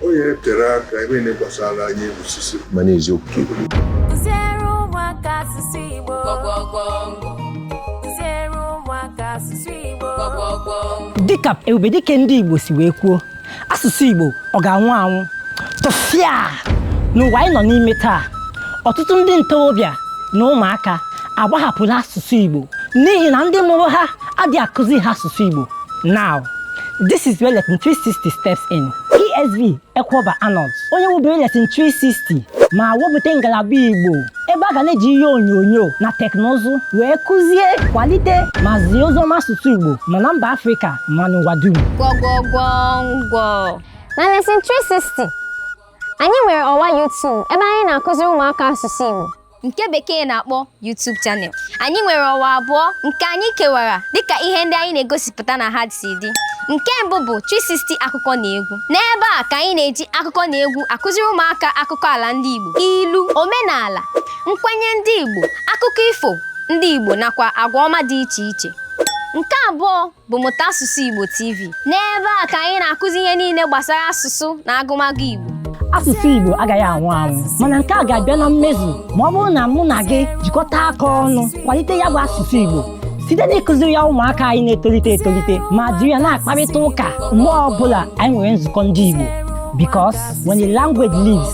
onye tere aka ebe na gbasara anyị osisi mana eziokwu ka ekwu Kụziere ụmụaka asụsụ Igbo. Kụziere ụmụaka asụsụ Igbo. dịka ebubedike ndị igbo si wee kwuo asụsụ igbo ọ ga-anwụ anwụ tụfịa n'ụwa anyị nọ n'ime taa ọtụtụ ndị ntorobịa na ụmụaka agbahapụla asụsụ igbo n'ihi na ndị mụrụ ha adịghị akụzi ha asụsụ igbo now this is where Lesson 360 steps in ESV Ekweoba Arnold onye wubere Lesson 360 ma wepụta ngalaba Igbo ebe a ga na-eji ihe onyonyo na teknụzụ wee kụzie kwalite ma zie oziọma asụsụ Igbo ma na mba Afrịka ma n'ụwa dum gwọgwọgwọngwọ na Lesson 360 anyị nwere ọwa YouTube ebe anyị na-akụziri ụmụaka asụsụ Igbo nke bekee na-akpọ YouTube channel anyị nwere ọwa abụọ nke anyị kewara dịka ihe ndị anyị na-egosipụta na ha si dị nke mbụ bụ 360 akụkọ na egwu n'ebe a ka anyị na-eji akụkọ na egwu akụziri ụmụaka akụkọ ala ndị Igbo ilu omenala nkwenye ndị Igbo akụkọ ifo ndị Igbo nakwa agwa ọma dị iche iche nke abụọ bụ Mụta Asụsụ Igbo TV. N'ebe a ka anyị na-akụzi ihe niile gbasara asụsụ na agụmagụ Igbo. Asụsụ Igbo agaghị anwụ anwụ mana nke a ga-abịa na mmezu ma ọ bụrụ na mụ na gị jikọta aka ọnụ kwalite ya bụ asụsụ Igbo site n'ịkụziri ya ụmụaka anyị na-etolite etolite ma jiri ya na-akparịta ụka mgbe ọbụla anyị nwere nzukọ ndị Igbo because when the language lives